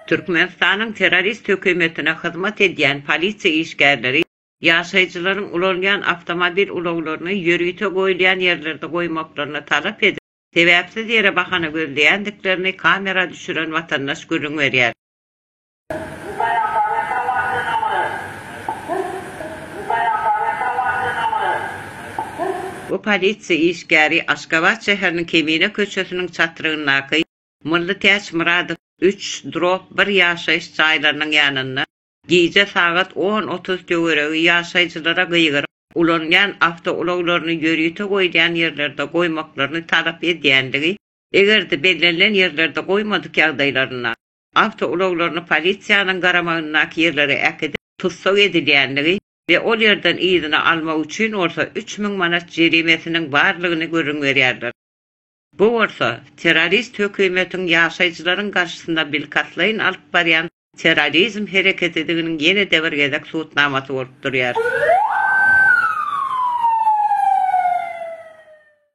Türkmenistanyň terrorist hökümetine hyzmat edýän polisiýa işgärleri ýaşaýjylaryň ulanýan awtomobil ulaglaryny ýörite goýulýan ýerlerde goýmaklaryny talap edip, sebäpsiz ýere bahana gözleýändiklerini kamera düşüren watandaş gürrüň berýär. Bu polisiýa işgäri Aşgabat şäheriniň Kemine köçesiniň çatrygyndaky Mylly Täç Myradow üç, drop bir ýaşaýyş jaýlarynyň ýanynda gije sagat on otuz töweregi ýaşaýjylara gygyryp, ulanylýan awtoulaglaryny ýörite goýulýan ýerlerde goýmaklaryny talap edýändigi, eger-de bellenilen ýerlerde goýmadyk ýagdaýlarynda, awtoulaglaryny polisiýanyň garamagyndaky ýerlere äkidip, tussag edilýändigi we ol ýerden yzyna almak üçin bolsa üç müň manat jerimesiniň barlygyny gürrüň berýärler. Bu bolsa, terrorist hökümetiň ýaşaýjylaryň garşysyna bilkastlaýyn alyp barýan terrorizm hereketidiginiň ýene-de bir gezek subutnamasy bolup durýar.